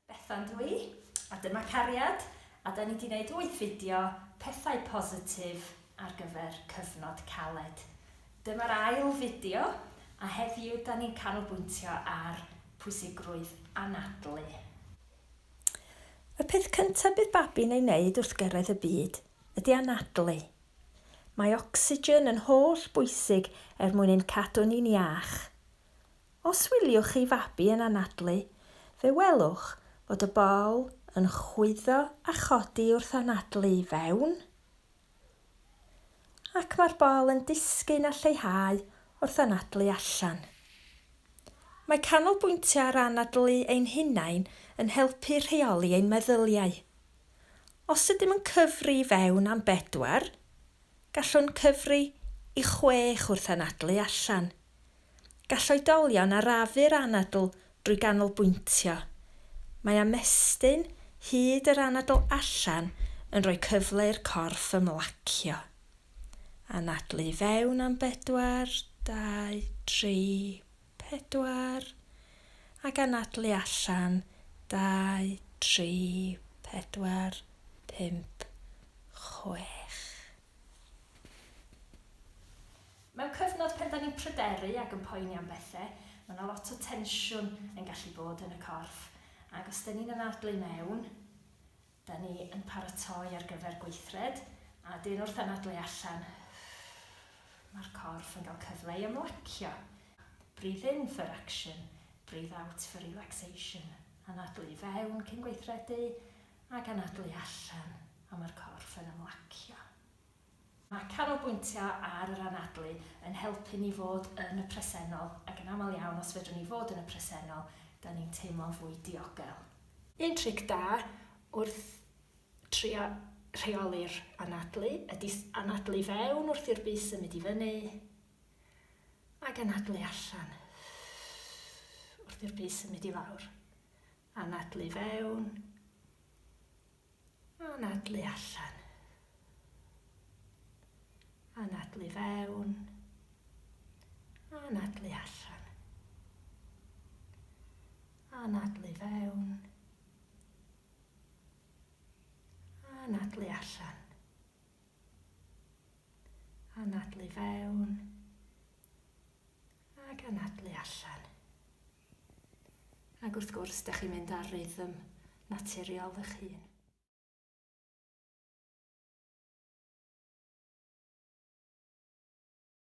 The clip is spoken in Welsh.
Bethan dw i, a dyma cariad, a da ni di wneud wyth fideo pethau positif ar gyfer cyfnod caled. Dyma'r ail fideo, a heddiw da ni'n canolbwyntio ar pwysigrwydd anadlu. Y peth cyntaf bydd babi'n ei wneud wrth gyrraedd y byd ydy anadlu, Mae ocsigen yn holl bwysig er mwyn ein cadw ni'n iach. Os wyliwch chi fabi yn anadlu, fe welwch fod y bol yn chwyddo a chodi wrth anadlu i fewn, ac mae'r bol yn disgyn a lleihau wrth anadlu allan. Mae canolbwyntio ar anadlu ein hunain yn helpu rheoli ein meddyliau. Os ydym yn cyfri i fewn am bedwar, gallwn cyfri i chwech wrth anadlu allan. Gall oedolion arafu'r anadl drwy ganolbwyntio. Mae ymestyn hyd yr anadl allan yn rhoi cyfle i'r corff ymlacio. Anadlu i fewn am bedwar, dau, tri, pedwar, ac anadlu allan, dau, tri, pedwar, pump, chwech. Mewn cyfnod pan 'dan ni'n pryderu ac yn poeni am bethe, ma' 'na lot o tensiwn yn gallu bod yn y corff, ac os 'dan ni'n anadlu i mewn, Da ni yn paratoi ar gyfer gweithred a dyn wrth anadlu allan Mae'r corff yn cael cyfle i ymlacio Breathe in for action, breathe out for relaxation Anadlu i fewn cyn gweithredu ac anadlu allan a mae'r corff yn ymlacio. Mae canolbwyntio ar yr anadlu yn helpu ni fod yn y presennol, ac yn aml iawn os fedrwn ni fod yn y presennol, dan ni'n teimlo'n fwy diogel. Un tric da wrth trio rheoli'r anadlu ydi anadlu fewn wrth i'r bys symud i fyny, ac anadlu allan wrth i'r bys symud i lawr. Anadlu fewn. Anadlu allan. Anadlu fewn. Anadlu allan. Anadlu fewn. Anadlu allan. Anadlu fewn. Ac anadlu allan. Ac wrth gwrs, dych chi'n mynd ar rythm naturiol eich hun.